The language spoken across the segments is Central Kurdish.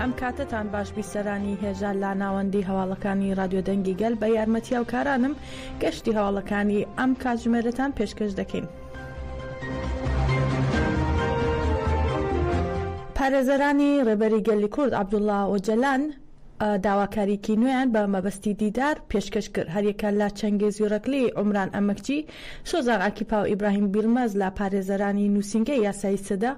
ئەم کاتەتان باش بیسەرانی هێژا لە ناوەندی هەواڵەکانی رادیۆ دەنگی گەل بە یارمەتی هاوکارانم گەشتی هەواڵەکانی ئەم کاتژمێرەتان پێشکەش دەکەین. پارێزەرانی رێبەری گەلی کورد عەبدوڵا ئۆجەلان داواکاریکی نوێیان بە مەبەستی دیدار پێشکەش کرد هەریەکە لە چەنگێز یورەکلی عمران ئەمەکچی شۆزان ئاکیپا و ئیبراهیم بیلمەز لە پارێزەرانی نووسینگەی یاسایی سەدە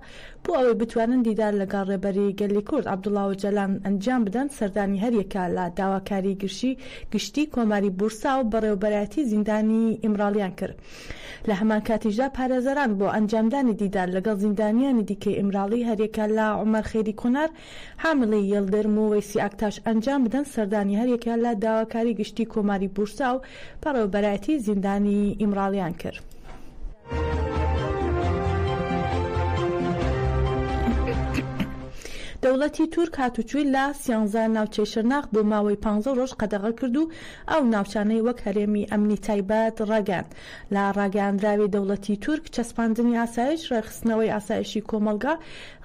بۆ ئەوەی بتوانن دیدار لەگەڵ ڕێبەری گەلی کورد عەبدوڵا ئۆجالان ئەنجام بدەن، سەردانی هەریەکە لە داواکاری گرژی گشتی کۆماری بورسا و بەڕێوەبەرایەتی زیندانی ئیمراڵیان کرد. لە هەمان کاتیشدا پارێزەران بۆ ئەنجامدانی دیدار لەگەڵ زیندانیانی دیکەی ئیمراڵی هەریەکە لە عومەر خەیری کۆنار، حاملەی یڵدرم و وەیسی ئاکتاش ئەنجام بدەن، سەردانی هەریەکەیان لە داواکاری گشتی کۆماری بورسا و بەڕێوەبەرایەتی زیندانی ئیمراڵیان کرد. دەوڵەتی تورک هاتوچۆی لە سیانزە ناوچەی شرناخ بۆ ماوەی پانزە ڕۆژ قەدەغە کرد و ئەو ناوچانەی وەک هەرێمی ئەمنی تایبەت ڕاگەیاند. لە ڕاگەیاندراوی دەوڵەتی تورک، چەسپاندنی ئاسایش، ڕێکخستنەوەی ئاسایشی کۆمەڵگا،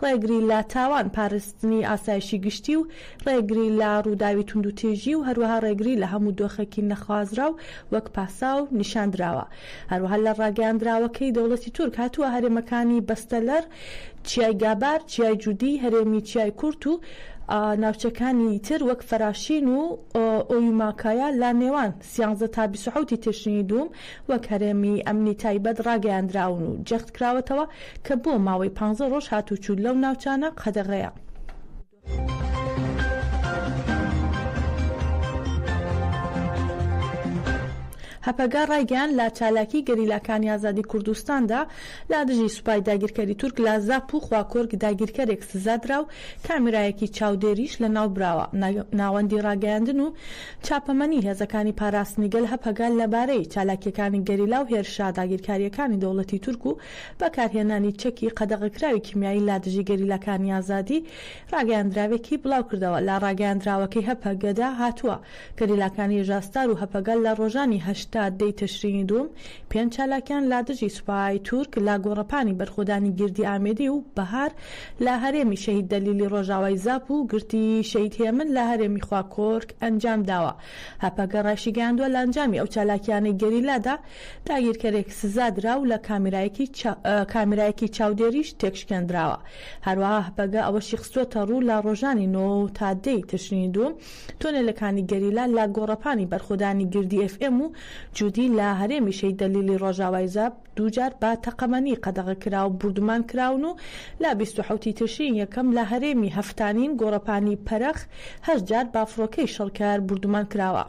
ڕێگری لە تاوان، پاراستنی ئاسایشی گشتی و ڕێگری لە ڕووداوی توندوتیژی و هەروەها ڕێگری لە هەموو دۆخێکی نەخوازراو وەک پاساو نیشان دراوە. هەروەها لە ڕاگەیاندراوەکەی دەوڵەتی تورک هاتووە هەرێمەکانی بەستەلەر، چیای گابار، چیای جودی، هەرێمی چیای کورت و ناوچەکانی تر وەک فەراشین و ئۆیوماکایا لە نێوان سیانزدە تا بیست و حەوت ی تشرینی دووم وەک هەرێمی ئەمنی تایبەت ڕاگەیاندراون و جەختکراوەتەوە کە بۆ ماوەی پانزە ڕۆژ هاتووچوو لەو ناوچانە قەدەغەیە. هەپەگە ڕایگەیاند، لە چالاکیی گەریلاکانی ئازادی کوردستاندا لە دژی سوپای داگیرکەری تورک لە زاپ و خواکۆرک داگیرکەرێک سزا درا و کامێرایەکی چاودێریش لەناوبراوە. ناوەندی ڕاگەیاندن و چاپەمەنی هێزەکانی پاراستنی گەل، هەپەگە، لەبارەی چالاکییەکانی گەریلا و هێرشە داگیرکارییەکانی دەوڵەتی تورک و بەکارهێنانی چەکی قەدەغەکراوی کیمیایی لادژی گەریلاکانی ئازادی ڕاگەیاندراوێکی بڵاوکردەوە. لە ڕاگەیاندراوەکەی هەپەگەدا هاتووە، گەریلاکانی ژاستار و هەپەگە لە ڕۆژانی هەشتا، دەی تشرینی دووم، پێنج چالاکیان لە دژی سوپای تورک لە گۆڕەپانی بەرخۆدانی گردی ئامێدی و بەهار لە هەرێمی شەهید دەلیلی ڕۆژاوای زاپ و گرتی شەهید هێمن لە هەرێمی خواکۆرک ئەنجام داوە. هەپەگە ڕایشیگەیاندوە لە ئەنجامی ئەو چالاکیانەی گەریلادا داگیرکەرێک سزا درا و لە کامیرایەکی چاودێریش تێکشکێندراوە. هەروەها هەپەگە ئەوەشی خستوەتەڕوو لە ڕۆژانی نۆ تا دەی تشرینی دووم تۆنێلەکانی گەریلا لە گۆڕەپانی بەرخۆدانی گردی ئێف ئێم و جودی لە هەرێمی شەهید دەلیلی ڕۆژاوای زاپ دووجار بە تەقەمەنی قەدەغە کرا و بوردومان کراون و لە بیست و حەوت ی تشرینی یەکەم لە هەرێمی هەفتانین گۆڕەپانی پەرەخ هەشت جار بە فڕۆکەی شەڕکەر بوردومان کراوە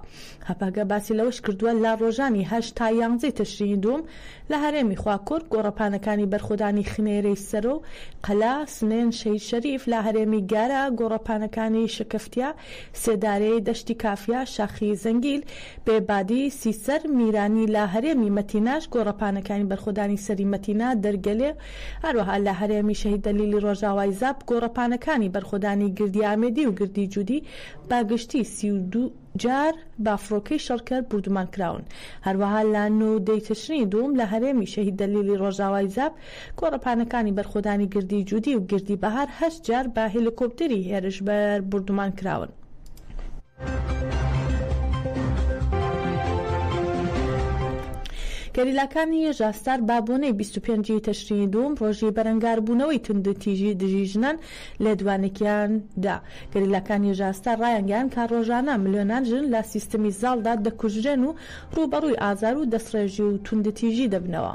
هەپەگە باسی لەوەش کردووە لە ڕۆژانی هەشت تا یانزە ی تشرینی دووم لە هەرێمی خواکورد گۆڕەپانەکانی بەرخۆدانی خنێرەی سەرۆ و قەلا سنێن شەهید شەریف لە هەرێمی گارە گۆڕەپانەکانی شەکەفتیە سێدارەی دەشتی کافیا، شاخی زەنگیل، بێ بادی، سیسەر، میرانی لە هەرێمی مەتیناش گۆڕەپانەکانی بەرخۆدانی سەری مەتینا، دەرگەلێ، هەروەها لە هەرێمی شەهید دەلیلی ڕۆژاوای زاپ گۆڕەپانەکانی بەرخۆدانی گردی ئامێدی و گردی جودی بە گشتی سی و دوو جار بە فڕۆکەی شەڕکەر بوردومان کراون هەروەها لە نۆ و دەی تشرینی دووم لە هەرێمی شەهید دەلیلی ڕۆژاوای زاپ گۆڕەپانەکانی بەرخۆدانی گردی جودی و گردی بەهار هەشت جار بە هێلیکۆپتەری هێرشبەر بوردومان کراون. گەریلاکانی ژاستار بە بۆنەی بیست و پێنج ی تشرینی دووم، ڕۆژی بەرەنگاربوونەوەی توندوتیژی دژی ژنان، لێدوانێکیان دا. گەریلاکانی ژاستار ڕایانگەیاند کە ڕۆژانە ملیۆنان ژن لە سیستمی زاڵدا دەکوژرێن و ڕووبەڕووی ئازار و دەستڕێژی و توندوتیژی دەبنەوە.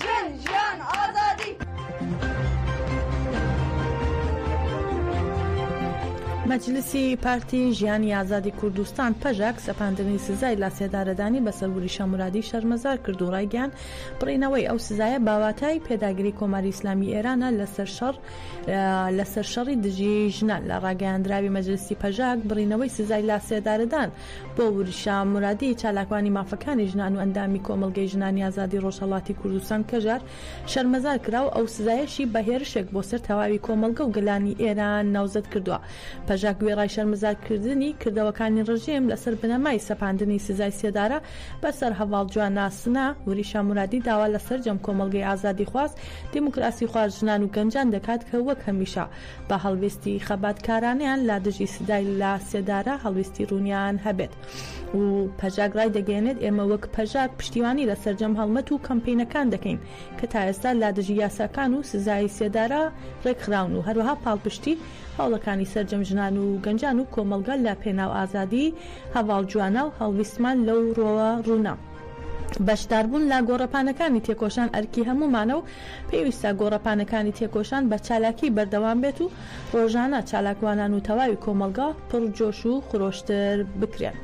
ژن، ژیان، ئازادی! مەجلیسی پارتی ژیانی ئازادی کوردستان، پەژاک، سەپاندنی سزای لاسێدارەدانی بەسەر وریشە مورادی شەرمەزار کرد و ڕایگەیاند، بڕینەوەی ئەو سزایە باواتای پێداگری کۆماری ئیسلامی ئێرانە لەسەر شەڕ لەسەر شەڕی دژی ژنان. لە ڕاگەیاندراوی مەجلیسی پەژاک، بڕینەوەی سزای لاسێدارەدان، بۆ ورشە مورادی چالاکوانی مافەکانی ژنان و ئەندامی کۆمەڵگەی ژنانی ئازادی ڕۆژهەڵاتی کوردستان کەژار شەرمەزار کرا و ئەو سزایەشی بە هێرشێک بۆ سەر تەواوی کۆمەڵگە و گەلانی ئێران ناوزەد کردوە. پەژاک وێڕای شەرمەزارکردنی کردەوەکانی ڕژێم لەسەر بنەمای سەپاندنی سزای سێدارە بە سەر هەڤاڵ جوان ناسنا، ورشە مورادی داوا لە سەرجەم کۆمەڵگەی ئازادیخواز، دیموکراسیخواز، ژنان و گەنجان دەکات کە وەک هەمیشە با هەڵوێستی خەباتکارانەیان لا دژی سزای لا سێدارە هەڵوێستی ڕوونیان هەبێت و پەژاک ڕایدەگەیەنێت ئێمە وەک پەژاک پشتیوانی لە سەرجەم هەڵمەت و کەمپەینەکان دەکەین کە تا ئێستا لا دژی یاساکان و سزای سێدارە ڕێکخراون و هەروەها پاڵپشتی هەوڵەکانی سەرجەم ژنان و گەنجان و کۆمەڵگە لە پێناو ئازادی هەڤاڵ جوانە و هەڵویستمان لەو ڕۆوە ڕوونە. بەشداربوون لە گۆڕەپانەکانی تێکۆشان ئەرکی هەموومانە و پێویستە گۆڕەپانەکانی تێکۆشان بە چالاکی بەردەوام بێت و ڕۆژانە چالاکوانان و تەواوی کۆمەڵگا پڕ جۆش و خرۆشتر بکرێن.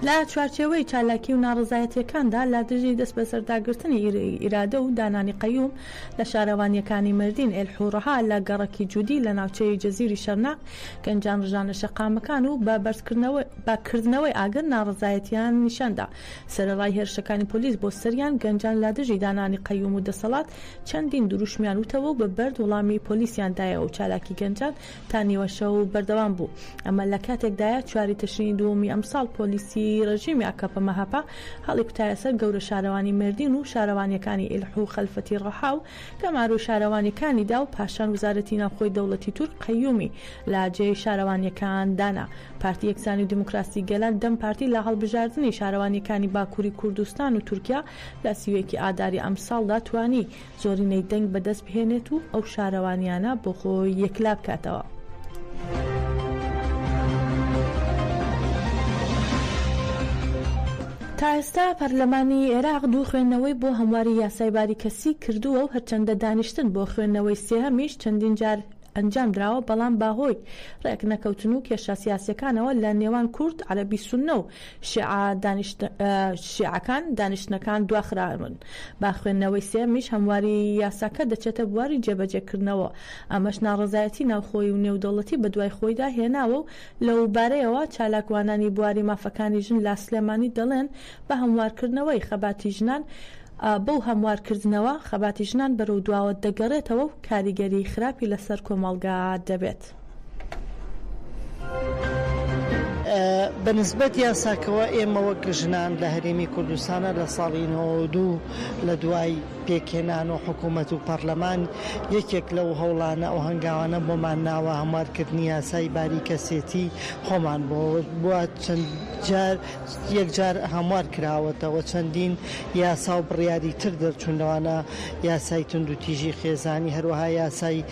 لە چوارچێوەی چالاکی و ناڕەزایەتییەکاندا لە دژی دەستبەسەرداگرتنی ئیرادە و دانانی قەیوم، لە شارەوانییەکانی مەردین، ئێلحوڕها، لە گەڕەکی جودی لە ناوچەی جزیری شەرناق، گەنجان ڕژانە شەقامەکان و بە بەردکردنەوەی کردنەوەی ئاگر ناڕەزایەتییان نیشان دا. سەرەڕای هێرشەکانی پۆلیس بۆ سەریان، گەنجان لە دژی دانانی قەیوم و دەسەڵات چەندین دروشمیان وتەوە و بە بەرد وڵامی پۆلیسیان دایەوە و چالاکی گەنجان تا نیوە شەو بەردەوام بوو، ئەمە لە کاتێکدایە چواری تشرینی دووەمی ئەمساڵ پۆلیسی رژێمی ئاکەپە-مەهەپە هەڵیکوتایە سەر گەورە شارەوانی مێردین و شارەوانییەکانی ئیلح و خەلفەتی رەحا و گەمارۆی شارەوانییەکانی دا و پاشان وزارەتی ناوخۆی دەوڵەتی تورک قەیومی لە جێی شارەوانییەکان دانا. پارتی یەکسانی و دیموکراسی گەلان، دەم پارتی، لە هەڵبژاردنی شارەوانییەکانی باکووری کوردستان و تورکیا لە سی و یەکی ئاداری ئەمساڵدا توانی زۆرینەی دەنگ بەدەست بهێنێت و ئەو شارەوانییانە بۆ خۆی یەکلا بکاتەوە. تا ئێستا پەرلەمانی عێراق دوو خوێندنەوەی بۆ هەمواری یاسای باری کەسی کردووە و هەرچەندە دانیشتن بۆ خوێندنەوەی سێهەمیش چەندین جار ئەنجام دراوە بەڵام بە هۆی ڕێکنەکەوتن و کێشە سیاسییەکانەوە لە نێوان کورد، عەرەبی سوننە و شیعەکان دانیشتنەکان دواخراون بە خوێندنەوەی سێیەمیش هەمواری یاساکە دەچێتە بواری جێبەجێکردنەوە، ئەمەش ناڕەزایەتی ناوخۆیی و نێودەوڵەتی بەدوای خۆیدا هێناوە و لەوبارەیەوە چالاکوانانی بواری مافەکانی ژن لە سلێمانی دەڵێن بە هەموارکردنەوەی خەباتی ژنان بەو هەموارکردنەوە خەباتی ژنان بەرەو دواوە دەگەڕێتەوە و کاریگەری خراپی لەسەر کۆمەڵگا دەبێت. بە نسبەت یاساکەوە ئێمە وەک ژنان لە هەرێمی کوردستانە لە ساڵی 92 لە دوای پێکێنان و حکوومەت و پەرلەمان یەکێک لەو هەوڵانە ئەو هەنگاوانە بۆمان ناوە هەموارکردنی یاسای باری کەسێتی خۆمان بۆ بووە چەند جار یەکجار هەموار کراوەتەوە چەندین یاسا و بڕیاری تر دەرچوون لەوانە یاسای تونند و تیژی خێزانی هەروەها یاسای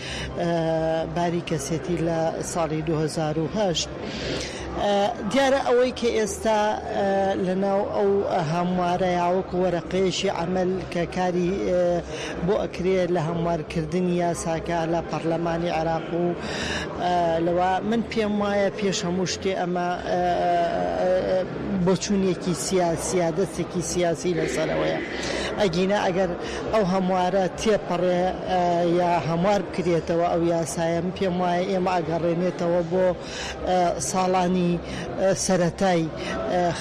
باری کەسێتی لە ساڵی دوو هەزار و هەشت دیارە ئەوەی کە ئێستا لەناو ئەو هەموارە یاوەکو وەرەقەیەشی عمل کە کاری بۆ ئەکرێت لە هەموارکردنی یاساکە لە پەرلەمانی عێراق و لەوە من پێم وایە پێش هەموو شتێ ئەمە بۆچوونێکی سیاسیە دەستێکی سیاسی لەسەرەوەیە ئەگینا ئەگەر ئەو هەموارە تێپەڕێ یا هەموار بکرێتەوە ئەو یاسایە من پێم وایە ئێمە ئەگەڕێنێتەوە بۆ ساڵانی سەرەتای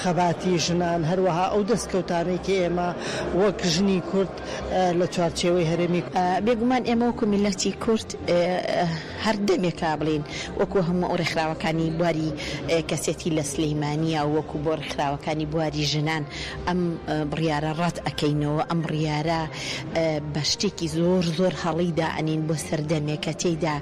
خەباتی ژنان هەروەها ئەو دەستکەوتانەی کە ئێمە وەک ژنی کورد لە چوارچێوەی هەرێمی بێگومان ئێمە وەکو میللەتی کورد هەر دەمێکە بڵێین وەکو هەموو ئەو ڕێکخراوەکانی بواری کەسێتی لە سلیمانیە وەکو بۆ ڕێکخراوەکانی بواری ژنان ئەم بڕیارە ڕەت ئەکەینەوە، ئەم بڕیارە بە شتێکی زۆر زۆر هەڵەی دائەنێین بۆ سەردەمێک کە تێیدا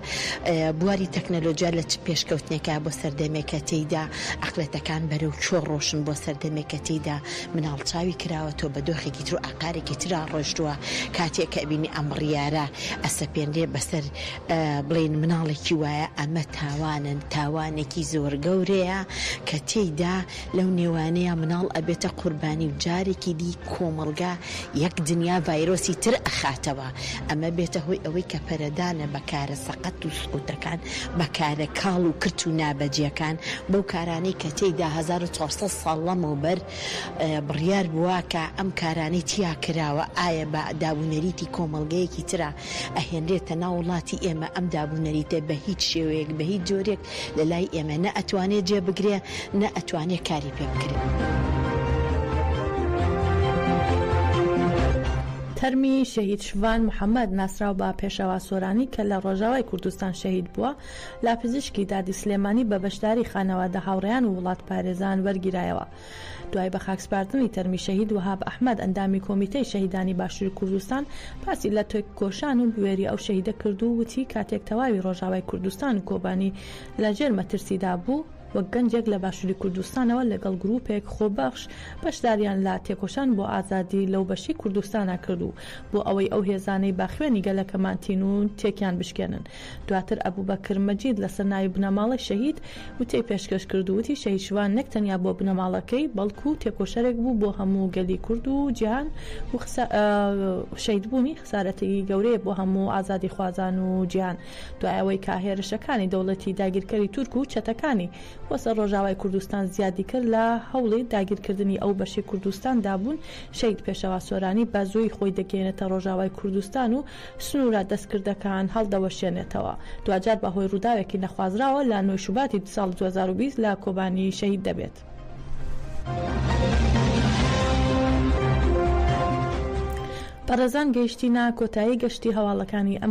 بواری تەکنەلۆجیا لە چ پێشکەوتنێکە بۆ سەردەمێک کە تێیدا عەقڵێتەکان بەرەو کوێ ڕۆشن بۆ سەردەمێک کە تێیدا مناڵ چاوی کراوەتەوە بە دۆخێکی تر و ئاقارێکی ترا ڕۆشتووە کاتێک کە ئەبینی ئەم بڕیارە ئەسەپێنرێ بەسەر بڵێن مناڵێکی وایە ئەمە تاوانە تاوانێکی زۆر گەورەیە کە تێیدا لەو نێوانەیا مناڵ ئەبێتە قوربانی و جارێکی دی کۆمەڵگا یەک دنیا ڤایرۆسی تر ئەخاتەوە ئەمە بێتە هۆی ئەوەی کە پەرەدانە بە کارە سەقەت و سوکەکان بە کارە کاڵ و کرت و نابەجێکان بەو کارانەی کە تێیدا هەزار و چوار سەد ساڵ لەمەو بەر بڕیار بوە کە ئەم کارانەی تیا کراوە ئایا بە داب و نەریتی کۆمەڵگەیەکی ترا ئەهێنرێتە ناو وڵاتی ئێمە ئەم داب و نەریتە بە هیچ شێوەیەک بە هیچ جۆرێک لە لای ئێمە نە ئەتوانێ جێ بگرێ نە ئەتوانێ کاری پێ بکرێ. تەرمی شەهید شڤان محەمەد ناسراو بە پێشەوا سۆرانی کە لە ڕۆژاوای کوردستان شەهید بووە لە پزیشکی دادی سلێمانی بە بەشداری خانەوادە هاوڕێیان و وڵاتپارێزان وەرگیرایەوە. دوای بەخاکسپاردنی تەرمی شەهید وەهاب ئەحمەد ئەندامی کۆمیتەی شەهیدانی باشووری کوردستان باسی لە تێکۆشان و بوێری ئەو شەهیدە کرد و وتی کاتێک تەواوی ڕۆژاوای کوردستان و کۆبانی لە ژێر مەترسیدا بوو وەک گەنجێک لە باشووری کوردستانەوە لەگەڵ گرووپێک خۆبەخش بەشداریان لە تێکۆشان بۆ ئازادی لەو بەشەی کوردستانا کرد و بۆ ئەوەی ئەو هێزانەی با خوێنی گەلەکەمان تینوون تێکیان بشکێنن دواتر ئەبوبەکر مەجید لەسەر ناوی بنەماڵەی شەهید وتەی پێشکەش کرد و وتی شەهید شوان نەک تەنیا بۆ بنەماڵەکەی بەڵکو تێکۆشەرێک بوو بۆ هەموو گەلی کورد و جیهان و شەیدبوونی خسارەتێکی گەورەیە بۆ هەموو ئازادیخوازان و جیهان دوای ئەوەی کە هێرشەکانی دەوڵەتی داگیرکەری تورک و چەتەکانی بۆ سەر ڕۆژاوای کوردستان زیادی کرد لە هەوڵی داگیرکردنی ئەو بەشەی کوردستان دابوون شەهید پێشەوا سۆرانی بە زووی خۆی دەگەیەنێتە ڕۆژاوای کوردستان و سنوورە دەستکردەکان هەڵدەوەشێنێتەوە، دواجار بە هۆی ڕووداوێکی نەخوازراوە لە نۆی شوباتی ساڵی دوو هەزار و بیست لە کۆبانی شەهید دەبێت. بەڕێزان گەیشتینە کۆتایی گەشتی هەواڵەکانی ئەم